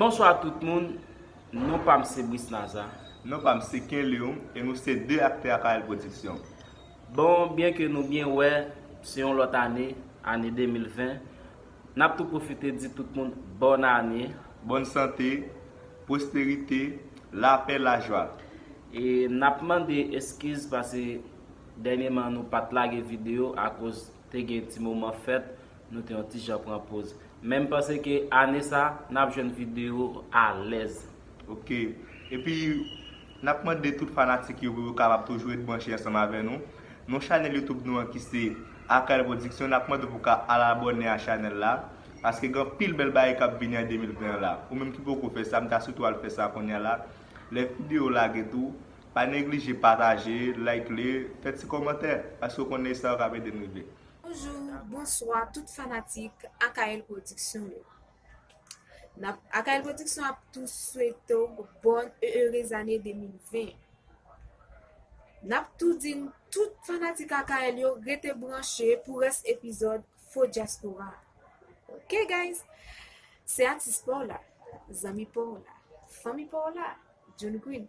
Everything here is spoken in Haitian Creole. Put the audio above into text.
Bonswa tout moun, non pa m se Brice Naza. Non pa m se Ken Leon e nou se 2 aktè Apayèl Pwodiksyon. Bon, byen ke nou byen wè se yon lòt ane, ane 2020, n ap tou pwofite di tout moun bòn ane. Bòn sante, pwosperite, lapè, lajwa. E n ap mande eskiz pase dènyeman nou pa t lage videyo akoz te gen ti moman fèt. Nou te yon ti jan pran poz. Men m panse ke ane sa, n ap jwenn video alèz. Ok. Epi, n ap mande tout fanatik yo pou yo kapab toujou ret branche ansanm avè nou. Non chanèl YouTube nou an ki se Akal Production, n ap mande w pou w ka al abòne a chanèl la. Paske gen anpil bèl bagay k ap vini an 2020 an la. Ou menm ki poko fè sa, m ta sitou al fè sa kounya la. Lè video w lage tou, pa neglije pataje, like li, fè ti kòmantè. Paske w konnen e sa yo k ap ede n rive. Bonjou, bonswa tout fanatik Akaël Production yo. Nap Akaël Production ap tou swete w bon e ere zane 2020. Nap tou di n tout fanatik Akaël yo rete branche pou rès epizòd Faux Diaspora. Ok guys, se atis pa w la, zanmi pa w la, fanmi pa w la, John Green,